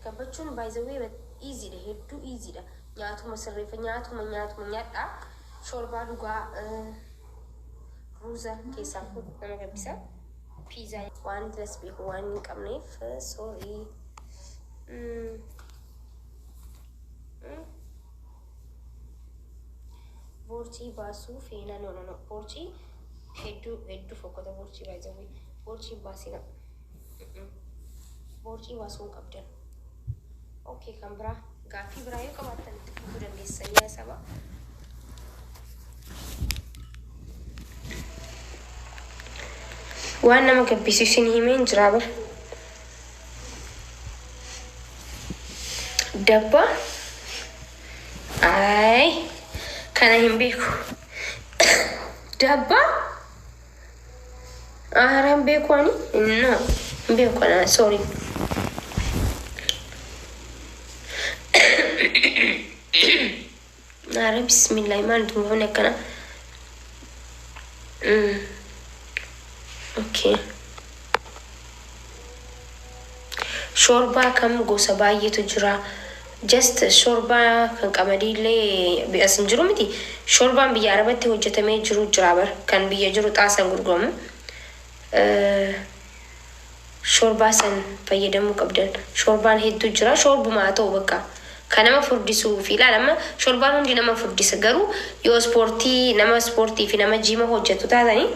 Gabbachuun by the way easy dha hedduu easy dha nyaatuma sirreeffa nyaatuma nyaatuma nyaadhaa shorbaa dhugaa ruuza keessaa nama gabbisa piizaa waan diras beeku waan hin qabneef soorii boorcii baasuu feenaa noonoo boorcii hedduu hedduu fokkota boorcii baay'ee boorcii baasina. Boorcii baasuu hin qabdan. Okay, kan biraa gaaffii biraa yoo qabaattan itti fufuu dandeessan yaa saba. Waan nama gabbisiisu isin himee hin jiraa bar. Dabba. Ayi. Kana hin beeku. Dabba. Aara hin beeku ani? No. Hin beeku ana. Sorry. Aara bismillaahi maal itti buufne akkana? Mm. Okay. Shoorbaa kam gosa baayyetu jira just shoorbaa kan qamadii illee as hin jiru miti shoorbaan biyya arabatti hojjetamee jiru jira bar kan biyya jiru xaasan gurguramu shoorbaa san fayyadamuu qabdan shoorbaan hedduu jira shoorbuma haa ta'u bakka kan nama furdisuu fi ilaala amma shoorbaan hundi nama furdisa garuu yoo ispoortii nama ispoortii fi nama jiima hojjetu taatanii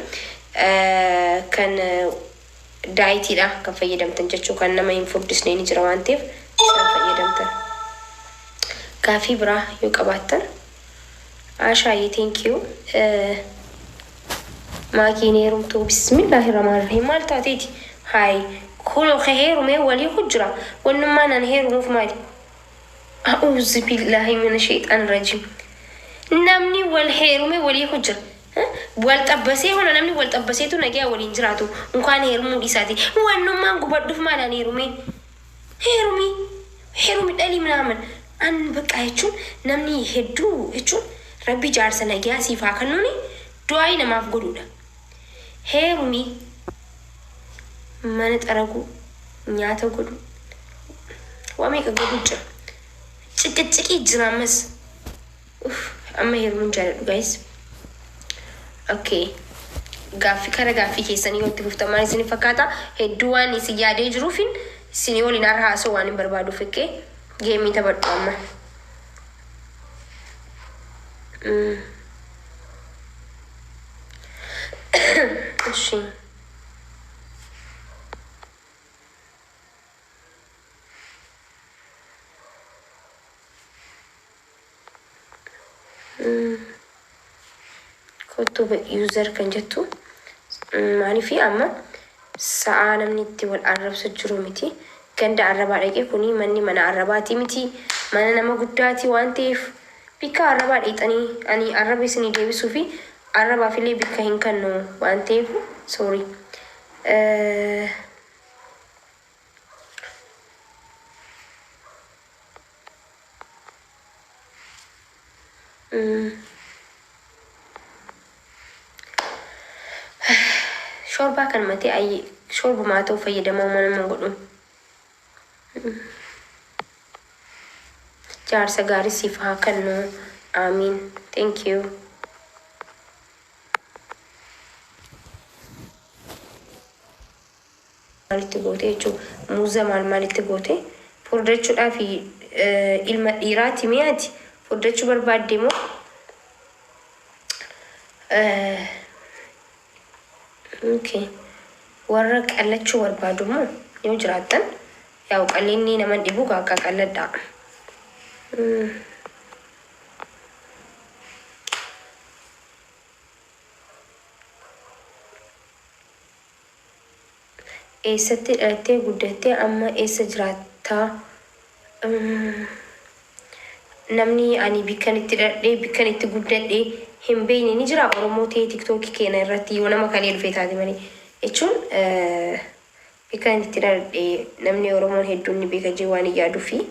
kan daayitii dha kan fayyadamtan jechuu kan nama hin furdisnee ni jira waan ta'eef isaan fayyadamtan. Gaaffii biraa yoo qabaattan Aashaayyee thank you. Maakii hin heerumtuu bismillaahi rahmaan rahiim maal taateeti haay kunoo ka heerumee walii ku jira wannummaan an heerumuuf maali a'uuzu billaahi mina sheexaan rajiim namni wal heerume walii ku jira Wal xabbasee hona namni wal xabbaseetu nagaya waliin jiraatu unkaan heerumuu dhiisaati wannummaan gubadhuf maal an heerumee heerumii heerumi dhalii minaaman an baqqaa jechuun namni hedduu jechuun rabbi jaarsa nagaya siif haa kannuuni du'aa'ii namaaf godhuudha heerumii mana xaraguu nyaata godhuu waa meeqa godhuu jira ciqiciqii jira ammas Uff amma herumuun jaaladhu guys ok gaaffi kara gaaffii keessanii yoo itti fuftan maal isin fakkaata hedduu waan isin yaadee jiruufin isinii waliin har'a haasoo waan hin barbaaduuf ok geemii taphadhu amma Mm. እሺ Kottu user kan jettu maaliif amma sa'aa namni itti wal arrabsu jiru miti. Ganda arrabaa dhaqee kuni manni mana arrabaati miti. Mana nama guddaati waan ta'eef bikka arrabaa dhiixanii ani arraba isinii deebisuu fi arrabaaf illee bikka hin kennu waan ta'eef sorry. Shoorbaa kan matee ayyii shoorbumaa ta'u fayyadamaa uumaa nama hin godhu. Jaarsa gaarii siif haa kennu. Aamiin. Thank you. maalitti goote jechuu muuza maal maalitti goote furdachudhaaf ilma dhiiraati mee ati furdachuu barbaadde moo okay. warra qallachuu barbaadu moo yoo jiraattan yaa'u qallinni naman dhibu gaakka qalladhaa Eessatti dhalattee guddattee amma eessa jiraatta? Namni ani bikkan itti dhaladhee bikkan itti guddadhe hin beekne ni jira Oromoo ta'ee tiktookii keena irratti yoo nama kalee dhufee taate malee jechuun bikkan itti dhaladhe namni Oromoon hedduun ni beeka jee waan hin yaaduu fi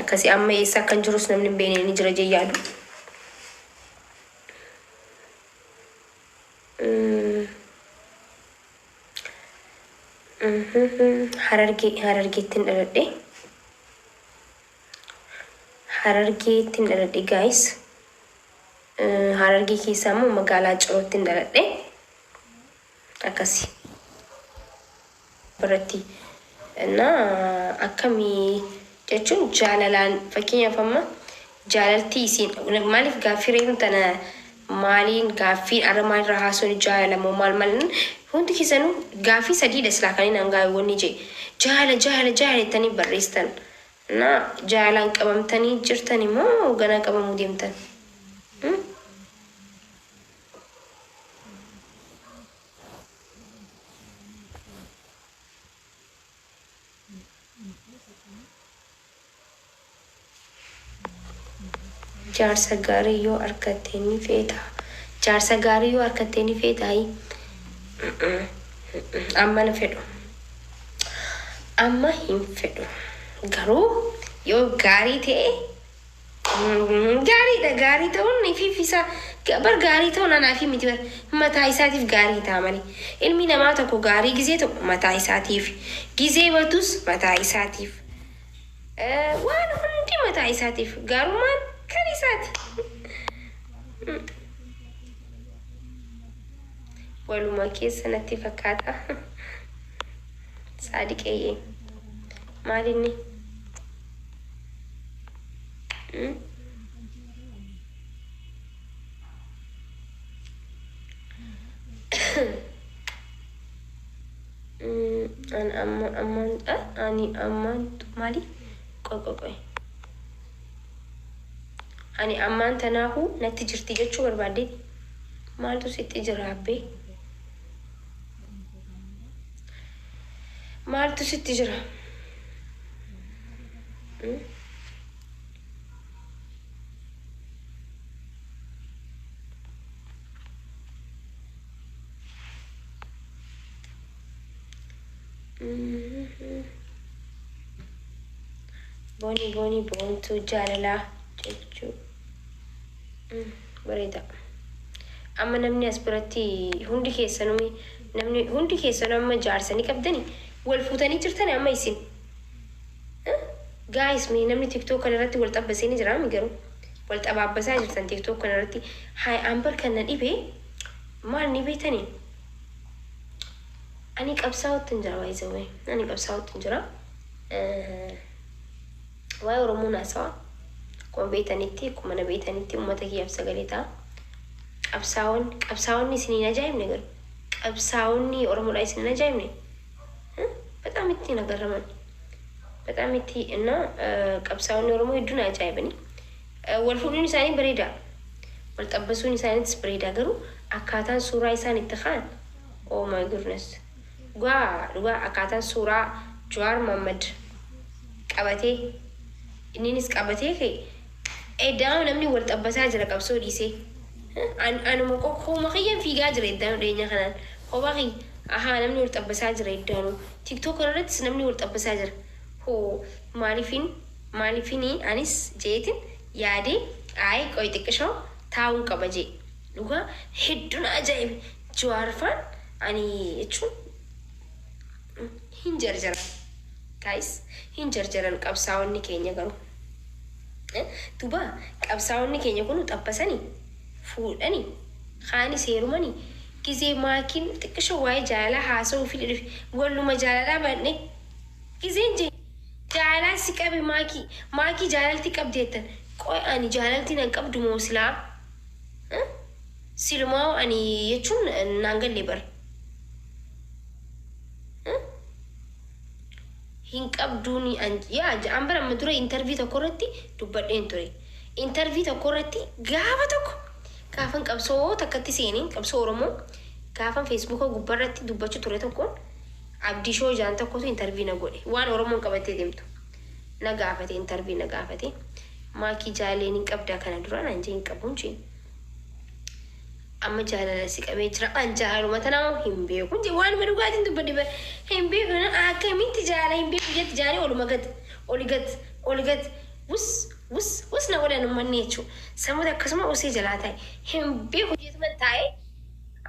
akkasii amma eessa akkan jirus namni hin beekne ni jira jee yaadu. Harargee harargeettin dhaladhe harargeettin dhaladhe guys harargee keessaa immoo magaalaa cirootti hin dhaladhe akkasi. irratti na akkami jechuun jaalalaan fakkeenyaaf amma jaalaltii isiin maaliif gaaffii reefu tana maaliin gaaffii arra maalirra haasoni jaalala moo maal maal hundi keessanu gaaffii sadiidha silaa kan inni hangaa wanni jee jaala jaala jaala jettanii barreessitan na jaalaan qabamtanii jirtani moo ganaa qabamuu deemtan? Jaarsa gaarii yoo arkatte ni feetaa? Jaarsa gaarii yoo arkatte ni feetaayi? Amma hin fedhu. Amma hin fedhu. Garuu yoo gaarii ta'e Gaariidha gaarii ta'uun ifiif isa bar gaarii ta'uun anaa fi miti bar mataa isaatiif gaarii ta'a malee ilmi namaa tokko gaarii gizee tokko mataa isaatiif gizee batus mataa isaatiif waan hundi mataa isaatiif gaarummaan kan isaati. Waluma keessa natti fakkaata. Saadiqeeyyee maalinni? an amma ammaan ani ammaan maali qoqoqoe ani ammaan tanaahuu natti jirti jechuu barbaadde maaltu sitti jira abbee Maaltu sitti jira? Hmm? Mhm. Booni booni boontuu jaalalaa jechuu. Bareeda. Amma namni as biratti hundi keessanuu namni hundi keessanuu amma jaarsa ni qabdani wal fuutanii jirtani amma isin. Gaayis mee namni tiktook kana irratti wal xabbasee ni jiraami garuu wal xabaabbasaa jirtan tiktook kana irratti haay ambar kan na dhibe maal ni beetani ani qabsaa'utti hin jira baay'isawee ani qabsaa'utti hin jira. Waa'ee Oromoon haasawa. Akkuma beetanitti, akkuma na beetanitti uummata kiyyaaf sagalee ta'a. Qabsaa'oon, qabsaa'onni isin hin ajaa'ibne garuu. Qabsaa'onni Oromoodhaa isin hin ajaa'ibne. Huh? Bataam itti na garraman. Bataam itti na eh, qabsaa'onni Oromoo hedduu na ajaa'ibani. Eh, Wal fuudhuun isaanii bareeda. Wal xabbasuun isaaniitis bareeda garuu akkaataan suuraa isaan itti ka'an. Oh my goodness. Dhugaa dhugaa akkaataan suuraa Jawaar Mohammed qabatee inninis qabatee ka'e eddaanuu namni wal xabbasaa jira qabsoo dhiisee. An anuma ko kooma kiyyan fiigaa jira eddaanuu dhiyeenya kanaan kophaa kiyya ahaa namni wal xabbasaa jira eddaanuu tiktok kana irrattis namni wal xabbasaa jira hoo maaliifin maaliifini anis je'eetin yaadee ayi qoy xiqqishoo taa'uun qaba je'e dhugaa heddu na ajaa'ibe Juwaar faan ani jechuun hin jarjaran guys hin jarjaran qabsaawonni keenya garuu duba qabsaawonni keenya kunu xabbasani fuudhani kaani seerumani gizee maakiin xiqqisho waa'ee jaalalaa haasa'uu fidhe dhufe walluma jaalalaa banne gizeen je jaalalaa si qabe maakii maakii jaalalti qabdi jettan qoy ani jaalalti nan qabdu moo silaa Silumaahuu ani jechuun naan galle bar. Hin qabduun yaa ja'aan bara amma dura intervii tokko irratti dubbadheen ture. Intervii tokko irratti gaafa tokko gaafan qabsoo takkatti seenee qabsoo Oromoo gaafan feesbuuka gubbaa irratti dubbachuu ture tokkoon abdii shoo jaan tokkotu intervii na godhe waan Oromoon qabattee deemtu. Na gaafate intervii na gaafate maakii jaaleen hin qabdaa kana dura naan jee hin qabuun jeen. amma jaalala si qabee jira an jaaluma tanaa hin beeku je waanuma dhugaatiin dubbadhe bara hin beeku na akkamitti jaala hin beeku jetti jaalee oluma gad oli gad oli gad wus wus wus na godhan ummanni jechuu samuuta akkasuma usee jalaa taa'e hin beeku jeetuman taa'e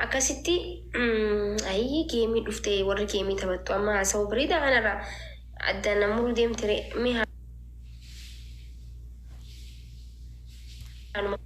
akkasitti ayyii geemii dhufte warri geemii taphattu amma haasa'uu bareeda kanarraa addaan namuruu deemtire mee haanuma